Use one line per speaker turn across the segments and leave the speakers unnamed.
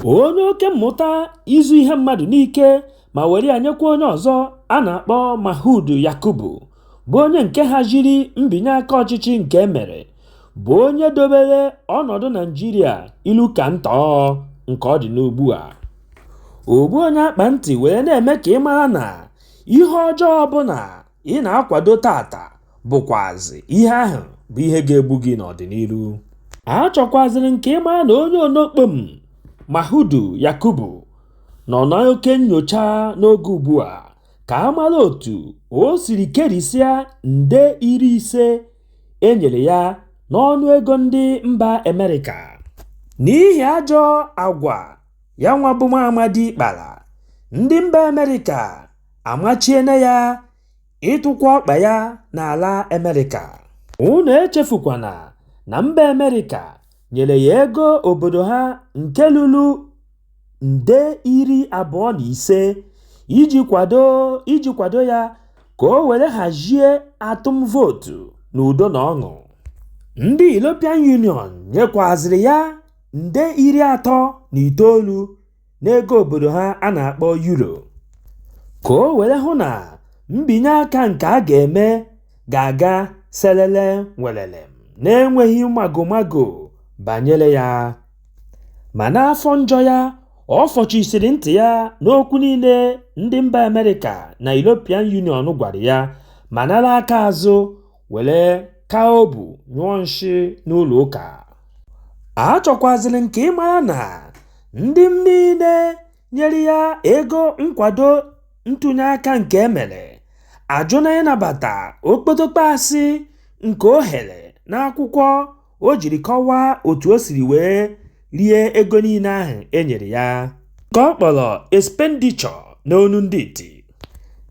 Onye oke mmụta izu ihe mmadụ n'ike ma were ya nyekwa onye ọzọ a na-akpọ Mahmood Yakubu, bụ onye nke haziri mbinye aka ọchịchị nke e mere, bụ onye dobere ọnọdụ Naịjirịa ilu ka ntọọ nke ọ dị n'ugbu a. Ogbu onye akpa ntị were na-eme ka ị mara na ihe ọjọọ ọbụla ị na-akwado taata bụkwazị ihe ahụ bụ ihe ga-egbu gị n'ọdịnihu a chọkwazịrị nke ịma na onye onokpom Mahmood Yakubu nọ n'oke nyocha n'oge ugbu a ka a mara otu o siri kerisịa nde iri ise e nyere ya n'ọnụ ego ndị mba Amerịka n'ihi ajọ agwa ya nwa bụ nwa amadị kpara ndị mba Amerịka amachiena ya ịtụkwa ọkpa ya n'ala Amerịka. Unu echefukwana na mba Amerịka nyere ya ego obodo ha nke ruru nde iri abụọ na ise iji kwado ya ka o were hazie atụm vootu n'udo na ọṅụ. Ndị European Union nyekwazịrị ya nde iri atọ na itoolu. n'ego obodo ha a na-akpọ Euro ka o were hụ na mbinye aka nke a ga-eme ga-aga selele welele n'enweghị magomago banyere ya. Ma n'afọ njọ ya, ọ fọchisiri ntị ya n'okwu niile ndị mba Amerịka na European Union gwara ya ma nara aka azụ were ka obu nyụọ nshị n'ụlọ ụka. Achọkwaziri m ka ị mara na ndị niile nyere ya ego nkwado ntụnye aka nke e mere ajụna ịnabata okpotokpo asị nke o ghere n'akwụkwọ o jiri kọwaa otu o siri wee rie ego niile ahụ e nyere ya nke ọ kpọrọ expenditure n'onu ndị iti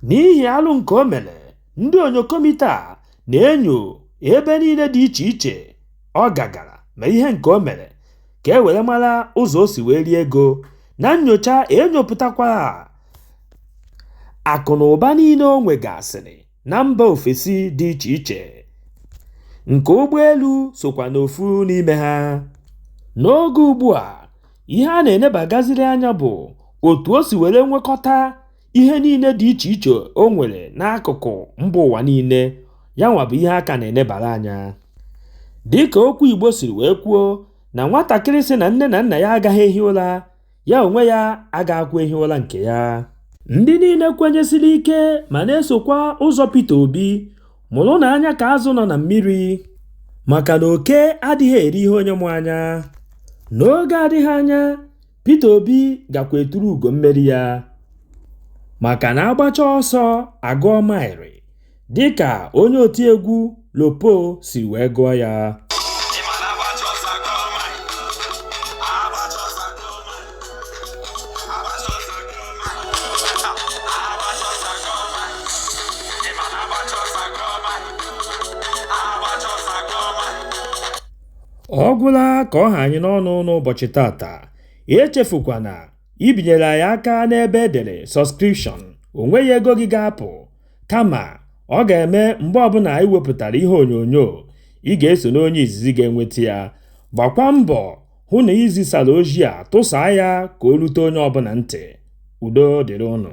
n'ihi alụ nke o mere ndị onyokomita na-enyo ebe niile dị iche iche ọ gagara ma ihe nke o mere ka e were mara ụzọ o si wee rie ego na nnyocha e nyopụtakwara akụ na ụba niile o nwegasịrị na mba ofesi dị iche iche nke ụgbọelu sokwa n'ofu n'ime ha. N'oge ugbu a, ihe a na-enebagaziri anya bụ otu o si were nwekọta ihe niile dị iche iche o nwere n'akụkụ mba ụwa niile, ya nwa bụ ihe a ka na-enebara anya. Dịka okwu Igbo siri wee kwuo na nwatakịrị sị na nne na nna ya agaghị ehi ụra ya onwe ya agaghịkwa ehi ụra nke ya ndị niile kwenyesiri ike ma na-esokwa ụzọ Peter Obi mụrụnụ anya ka azụ nọ na mmiri maka na oke adịghị eri ihe onye mụ anya n'oge adịghị anya Peter Obi gakwa eturu ugo mmeri ya maka na a gbacha ọsọ a gụọ maịrị dịka onye otiegwu Lopo si wee gụọ ya. ọ gwụla ka ọ ha anyị n'ọnụ n'ụbọchị taata echefukwana ibinyere anyị aka n'ebe e dere subscription o nweghị ego gị ga-apụ Kama, ọ ga-eme mgbe ọbụla anyị wepụtara ihe onyonyo, ị ga-eso n'onye izizi ga-enweta ya. Gbakwa mbọ hụ na i zisara ozi a tụsaa ya ka o rute onye ọbụla ntị. Udo dịrị unu.